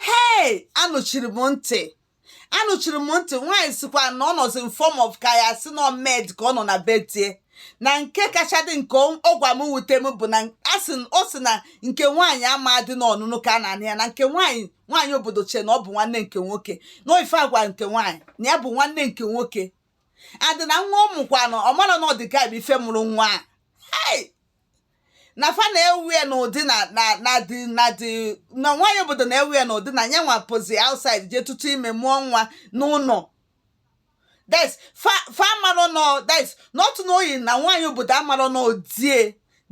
hei anụchiri m ntị anụchiri m ntị nwaanyị sikwa na ọ nọzi in form of ka ya si nọ maid ka ọ nọ na be die na nke kacha dị nke ọ gwa m wute m bụ na ọ sị na nke nwaanyị amadị n'ọnụnụ ka a na-anụ ya na nke nwaanyị nwaanyị obodo chee na ọ bụ nwanne nke nwoke na ife a gwa nke nwaanyị na ya bụ nwanne nke nwoke adị na nwa ị mụkwanụ ọ mara na ọ di gị bụ ife mụrụ nwa a na fa na-ewe ya n'ụdị na na na dị na dị na nwaanyị obodo na-ewe ya n'ụdị na ya nwa pụzi outside jee tutu ime mụọ nwa n'ụlọ that's fa fa amarọ na that's not knowing na nwaanyị obodo amarọ n'ọ die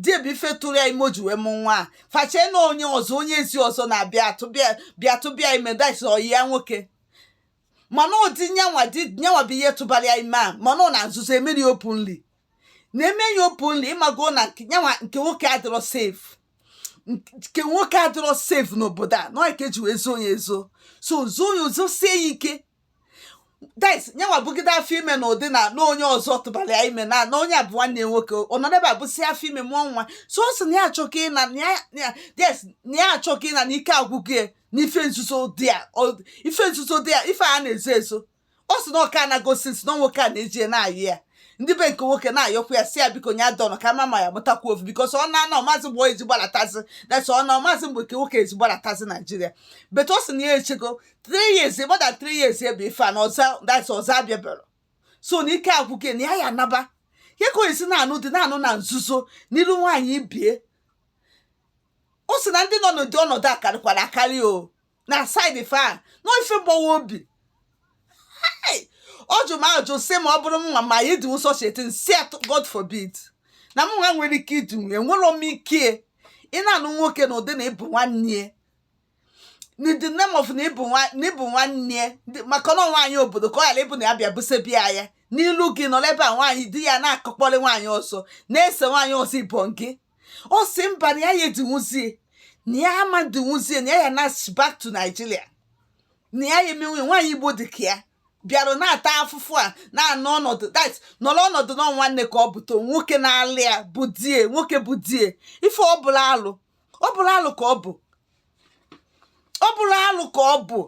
die bụ ife tụrụ ya ime o ji wee mụ nwa a fa chee na onye ọzọ onye ezi ọzọ na-abịa atụba ya bịa tụba ya ime that's ọyị ya nwoke mana ọ di nyanwa di nyanwa bụ ihe tụbara ya ime a mana ọ na nzuzo emeri openly na-eme ya openly ị mago na nke nyanwa nke nwoke adịrọ safe nke nwoke adịrọ safe n'obodo a na ọ ka e ji wee zoo ya ezo so zoo ya ezo sie ya ike that's nyanwa bugide afọ ime na ụdị na na onye ọzọ tụbara ya ime na na onye a bụ nwanne ya nwoke ọ nọ n'ebe a busị afọ ime mụọ nwa so ọ sị na ya achọgo ịna na ya- na ya- yes na ya achọgo ịna na ike agwụgo ya na ife nzuzo dị ya ọ- ife nzuzo dị ya ife a na-ezo ezo ọ sị na ọ ka-anago since na nwoke a na-eji na-ayọ ya ndị be nke nwoke na-ayọkwa ya sị ya biko nya dọnọ ka a ma ma ya mụtakwa ofu because ọ na na ọ mazị mgbe eji gbalatazi that's ọ na ọ mazị mgbe nke nwoke eji gbalatazi Nigeria but ọ sị na ya echego 3 years more than 3 years ebe ife a na ọzọ that's ọzọ abịaberọ so na ike agwụgo ya na ya ya anaba ya ka ọ ya-esi na-anụ di na-anụ na nzuzo n'iru nwaanyị ibie ọ sị na ndị nọ n'ụdị ọnọdụ a karịkwara akarị o na side fa a na ife gbawa obi Hey! ọ jụ m ajụ sị ma ọ bụrụ m nwa ma m ya-edinwu such a thing sị atụ God forbid na m nwa enwerọ ike idinwu ya enwerọ m ike ịna-anụ nwoke na ụdị na ị bụ nwanne ya in the name of na ị bụ nwa- na ị bụ nwanne ya Ndị- maka na nwaanyị obodo ka ọ ghara ịbụ na ya bịa busebi ya ya n'ilu gị nọrọ ebe a nwaanyị di ya na-akụkpọrị nwaanyị ọzọ na-ese nwaanyị ọzọ ibon gị ọ sị mba na ya ya edinwuzie na ya ama edinwuzie na ya ya na back to Nigeria na ya ya emenwu ya nwaanyị Igbo dị ka ya bịara na-ata afụfụ a na-anọ ọnọdụ that's nọrọ ọnọdụ na nwanne ka ọ bụto nwoke na-alụ ya bụ die nwoke bụ die ife ọ bụla alụ ọ bụla alụ ka ọ bụ ọ bụla alụ ka ọ bụ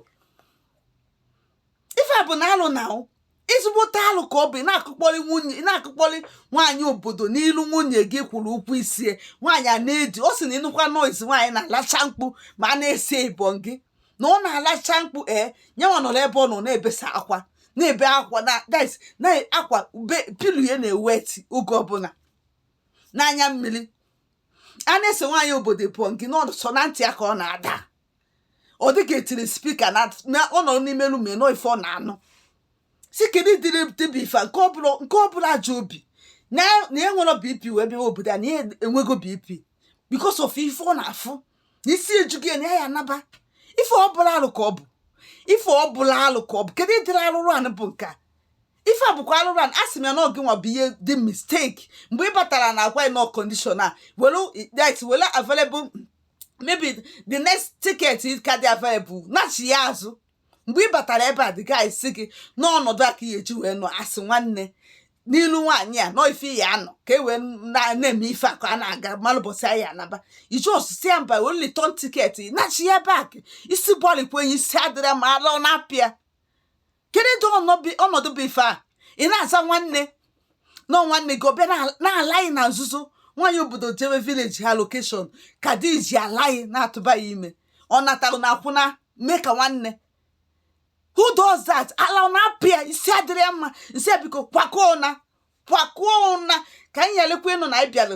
ife a bụ na alụ na ọ ezigbote alụ ka ọ bụ ị na-akụkpọrị nwunye ị na-akụkpọrị nwaanyị obodo n'ilu nwunye gị kwụrụ ụgwọ isie nwaanyị a na-edi ọ sị na ị nụkwa noise nwaanyị na-alacha mkpu ma a na-ese ịbọn gị na ọ na-alacha mkpu ee nyanwa nọrọ ebe ọ nọ na-ebesa akwa na-ebe akwa na that's na akwa bed pillow ya na-eweti oge ọbụla n'anya mmiri a na-ese nwaanyị obodo ịbọn gị na ọ sọ na ntị ya ka ọ na-ada ọ dịka etiri spika na ọ nọ n'ime room anụ ife ọ na-anụ sị kedu ụdịrị di bụ ife nke ọbụla ji obi na ya enwerọ bp wee bịa obodo a na ya enwego bp because of ife ọ na-afụ na isi ejugo ya na ya ya anaba ife ọbụla alụ ka ọ bụ ife ọbụla alụ ka ọ bụ kedu ụdịrị alụrụ anị bụ nke a ife a bụkwa alụrụ anị a sị m ya na ọ gị nwa bụ ihe dị mistake mgbe ị batara na agwa nọ condition a were it were available maybe the next ticket ka dị available nachie azụ mgbe ị batara ebe a the guy sị gị na ọnọdụ a ka ị ya-eji wee nọ a sị nwanne na ị lụ nwaanyị a nọ ife ya anọ ka e wee na-eme ife a ka a na-aga malụ ụbọsị a ya-anaba ị jụọ sị ya mba were return ticket nachie back isi bọọlụ kwenye isi adịrọ mma ala ọ na-apịa kedu ọnọdụ bụ ife a ị na-aza nwanne nọ nwanne gị ọ bịa na-ala gị na nzuzo nwaanyị obodo jewe village ha location ka di ji ala gị na-atụba ya ime ọ natara na akwụna mee ka nwanne who does that ala na-apịa isi adịrọ ya mma isi biko kwakọọ naa kwakọọ naa ka anyị yalekwa ịnụ na anyị bịalụ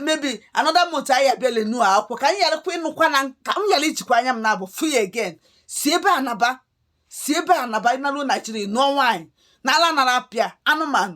maybe another month anyị abịa na-anụ akụkọ ka anyị yalekwa ịnụkwa na ka m yala ijikwa anya m naabọ fụ ị again si ebe a naba si ebe a naba ị naruo Naijiria nụọ nwaanyị na ala nara apịa anụmanụ